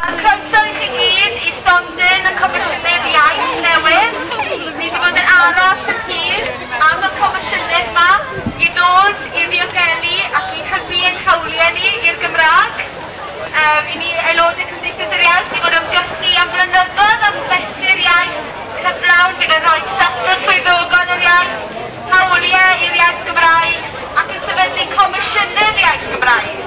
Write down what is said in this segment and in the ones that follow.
A chroeso i chi gyd i stondin y Comisiynydd Iaith newydd. Ni 'di bod yn aros yn hir am y Comisiynydd 'ma i ddod i ddiogelu ac i hybu ein hawliau ni i'r Gymraeg. Yym, i ni aelodau Cymdeithas yr Iaith i fod ymgyrchu am flynyddoedd am fesur iaith cyflawn fydd yn rhoi statws swyddogol yr iaith, hawliau i'r iaith Gymraeg ac yn sefydlu Comisiynydd Iaith Gymraeg.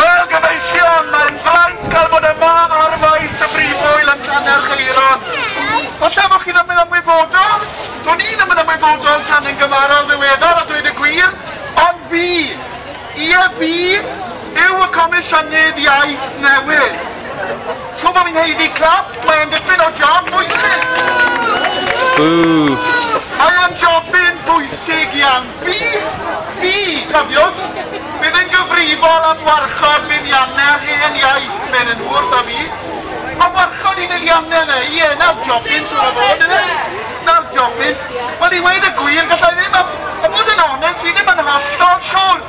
Wel, gyfeillion, mae'n fraint cael bod yma ar faes y Brif Ŵyl yn Llanerchaeron. Falle bod chi ddim yn ymwybodol, do'n i ddim yn ymwybodol tan yn gymharol ddiweddar a dweud y gwir, ond fi, ie fi, yw y Comisiynydd Iaith newydd. Chi'n gwybod, fi'n haeddu clap, mae e'n dipyn o job bwysig. Mae e'n jobyn bwysig iawn. Fi! Fi! Cofiwch, bydd yn gyfrifol am warchod buddiannau'r hen iaith, medden nhw wrtha fi. A warchod i fuddiannau fe? Ie, 'na'r jobyn, siŵr o fod, yfe? 'Na'r jobyn. Wel, i weud y gwir, galla i ddim, a bod yn onest, dwi ddim yn hollol siŵr.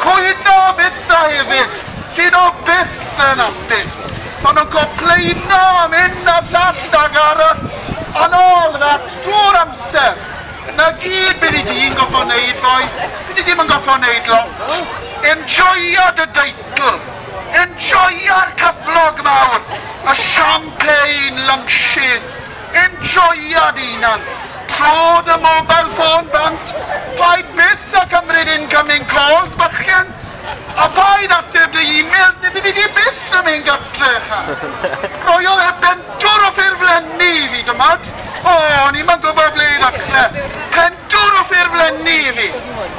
Hyd na fyddai hefyd, dyn o byth yn hapus, ond yn complaino am hyn a llall ac arall, and all that, drwy'r amser. Na gyd bydd i di'n gorffod neud, bois, bydd i di'm yn gorffod neud lot. Enjoia dy deitl, enjoia'r cyflog mawr, y champagne lunches, Enjoia dy hunan! Tro dy mobile ffôn bant, paid byth a cymryd incoming calls bachgen! A phaid ateb dy emails neu byddi di byth yn mynd gartre ychan! Roi o heb bentwr o ffurflenni i fi dymad! O, o'n i'm yn gwybod ble i ddachre! Pentwr o ffurflenni i fi!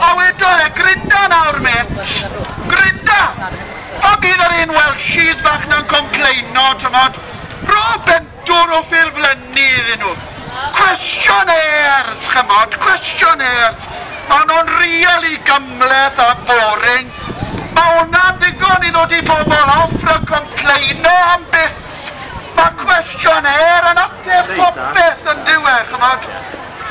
A wedo e, Grinda nawr met! Grinda! A bydd yr un Welshies bach na'n complaino, t'mod, Rho bentwr! Dod o ffurflenni iddyn nhw. Questionnaires, ch'mod, questionnaires. Maen nhw'n rili gymhleth a boring. Mae hwnna'n ddigon i ddod i bobl off rhag complaino am byth. Mae questionnaire yn ateb popeth, yn dyw e, ch'mod.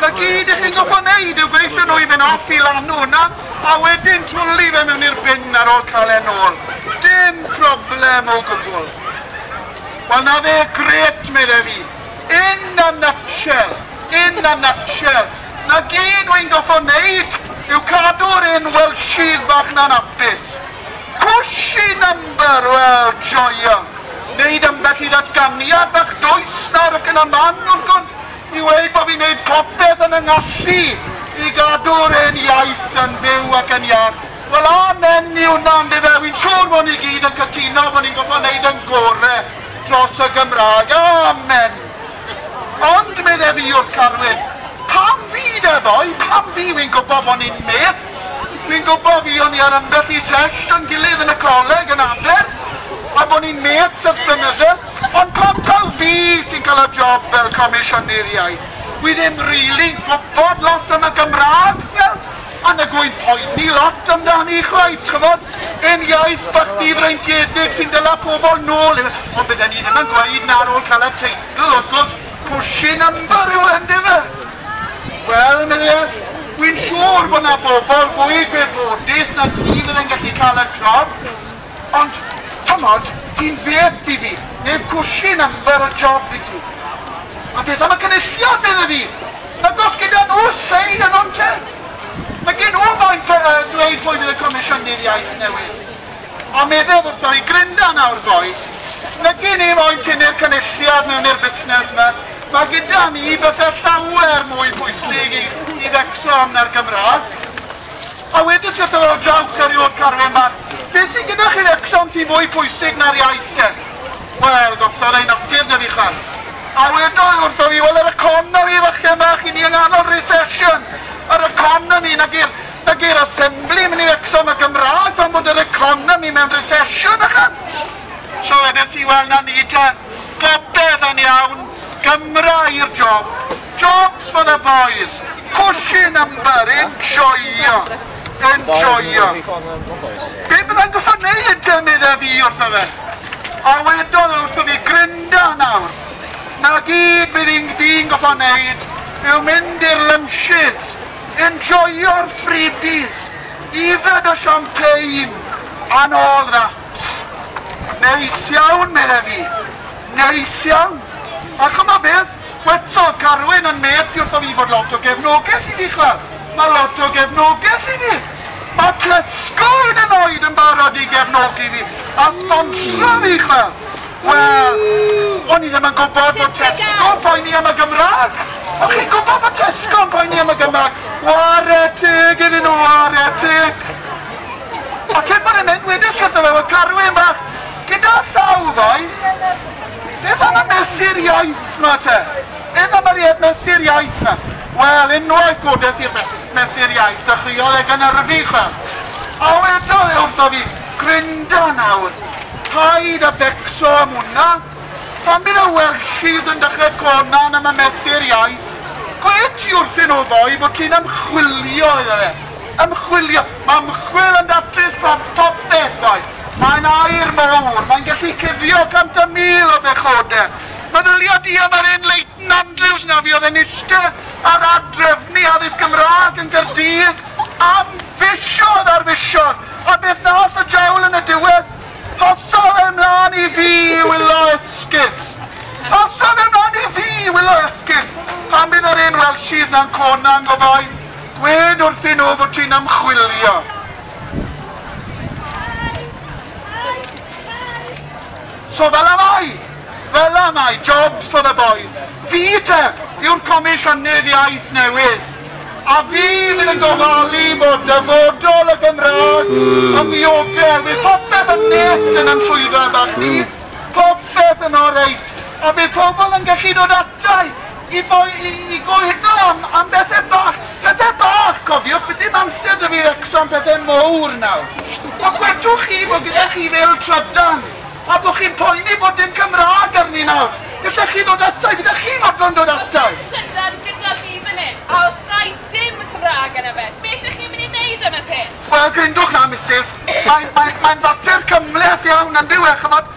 'Na gyd i chi'n gorfod wneud yw gwneud iddyn nhw i fynd off i lanw yna a wedyn twli fe mewn i'r bin ar ôl cael e'n ôl. Dim problem o gwbl. Wel 'na fe, grêt, medde fi. In a nutshell, in a nutshell, 'na gyd wi'n goffo' neud yw cadw'r un Welshies bach 'na'n hapus. Cushy number, wel, joion. Neud ambell i ddatganiad bach dwys nawr ac yna man, wrth gwrs, i weud bo' fi'n neud popeth yn 'y ngallu i gadw'r hen iaith yn fyw ac yn iach. Wel amen i hwnna yndyfe, wi'n siŵr bod ni gyd yn cytuno bod ni'n gorfod neud yn gore dros y Gymraeg, amen! Ond medde fi wrth Carwyn, pam fi de boi, pam fi, wi'n gwybod bod ni'n mêts, wi'n gwybod fi o'n i ar ambell i sesht yn gilydd yn y coleg yn Aber a bod ni'n mêts ers blynydde, ond pam taw fi sy'n cael y job fel Comisiynydd Iaith? Wi ddim rili'n gwybod lot am y Gymraeg, wel, Ond nag wy'n poeni lot amdani chwaith, ch'mod. Hen iaith bach difreintiedig sy'n dala pobl nôl i'r... Ond bydden i ddim yn gweud 'na ar ôl cael y teitl, wrth gwrs, cushy number yw e, yndyfe? Wel, medde e, wi'n siŵr bod 'na bobl fwy gwybodus na ti fydde'n gallu cael y job. Ond, t'mod, ti'n fêt, Divi, neb cwshin am fer y job i ti. A beth am y Cynulliad, medda fi? Nag oes gyda nhw say yno'n te? Mae gen nhw faint o yy ddweud pwy fydd y Comisiynydd Iaith newydd. A meddaf wrtho i Glinda nawr ddoe, nag i ni moyn tynnu'r Cynulliad mewn i'r busnes 'ma, mae gyda ni bethe llawer mwy pwysig i i Wrecsam na'r Gymraeg. A wedyn sut ar ôl draw curry o'r carfan bach? Be sy gyda chi'r Exxon sy mwy pwysig na'r iaith de? Wel, gollodd ei natur na fi chwaith. A wedodd e wrtho fi, wel yr economi fachgen bach, i ni yng nghanol recession, yr economi, nag i'r, nag i'r Assemblyman yw Exxon y Gymraeg pan bod yr economi mewn recession ychan! So wedes i, wel na ni te, popeth yn iawn. Gymra i'r job! Jobs for the boys! Pushing number! Enjoio! Enjoio! Be byddai'n gorfod wneud, medda fi wrtho fe. A wedodd o wrtho fi, Grynda nawr. Na gyd bydd i'n di'n gorfod wneud yw mynd i'r lunches, enjoio'r freebies, yfed y champagne and all that. Neis iawn, medda fi. Neis iawn. A ch'mod beth? Gwedsodd Carwyn yn mêt i wrtho fi fod lot o gefnogeth i fi, ch'wel'. Ma' lot o gefnogeth i fi. Ma' Tesco hyd yn oed yn barod i gefnogi fi a sbonsro fi, ch'wel'. Wel, o'n i ddim yn gwbod bod Tesco'n poeni am y Gymra'g. O'ch chi'n gwbod bod Tesco'n poeni am y Gymra'g? Ware teg iddyn nhw, ware teg. Ond cyn bod e'n mynd, wedes i wrtho fe, wel Carwyn fach, gyda llaw ddoe, beth am y mesur iaith 'ma te? Beth am yr mesur iaith 'ma? Wel, unwaith godes i'r mesur iaith, dechreuodd e gynyrfu, chwel. A wedodd e wrtho fi, Grynda nawr, paid â becso am hwnna, pan bydd y Welshies yn dechrau conan am y mesur iaith, gwe ti wrthyn nhw ddoe bod ti'n ymchwilio iddo fe, ymchwilio. Mae ymchwil yn datrys bron popeth, doedd. Mae'n aer mawr, mae'n gallu cuddio 100,000 o bechodau. Meddylia di am yr un Leighton Andrews 'na fuodd yn iste ar adref ni addysg Gymraeg yn Gaerdydd am fisoedd ar fisoedd, a beth nath y diawl yn y diwedd? Hotha fe mlan i fi i wylo esgus! Hotha fe mlan i fi i wylo esgus! Pan bydd yr un Welshies 'na'n cona'n gobaith. Dwed wrthyn nhw fod ti'n ymchwilio. So fel a mae, fel a mae, jobs for the boys. Fi te yw'r Comisiynydd Iaith newydd, a fi fydd yn gofalu bod dyfodol y Gymraeg yn ddiogel. Bydd popeth yn net yn 'y swyddfa bach ni, popeth yn oreit, a bydd pobl yn gallu dod ata i I boi i gwyno am am bethe bach, pethe bach cofiwch bydd dim amser 'da fi fecso am pethe mowr nawr. Ond gwedwch chi fo' gyda chi fel trydan a bo' chi'n poeni bod dim Cymrâg arni nawr, gallech chi ddod ata i, fyddech chi'n fodlon dod ata i? Bydd trydan gyda fi fan 'yn a os rai dim y Cymrâg arno fe, beth 'ych chi'n mynd i neud am y peth? Wel grindwch 'na misus, mae'n mae'n mae'n fater cymhleth iawn yndyw e ch'mod?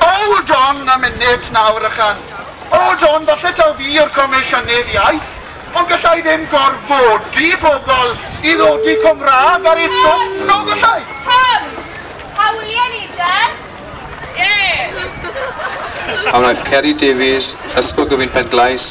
Hold on a minute nawr ychan, hold on, falle taw fi yw'r Comisiynydd Iaith, ond galla i ddim gorfodi pobl i ddodi Cymraeg ar eu stwff, nag alla i? Pam? Hawlie ni, de? Ie! A wnaeth Ceri Davies, Ysgol Gyfun Penglais,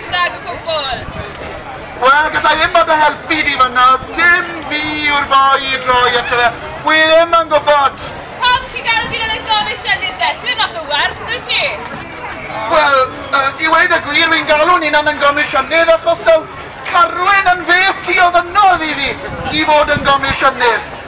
Nag o gwbl! Wel, galla i ddim bod o helpu di fan'na, dim fi yw'r boi i droi ato fe, wi ddim yn gwbod! Pam ti'n galw fi lan yn gomisiynydd de? Ti ddim lot o werth, dwyt ti? Wel, yy, i weud y gwir, wi'n galw Ninan yn gomisiynydd achos daw Carwyn yn fêt i ofynnodd i fi i fod yn gomisiynydd.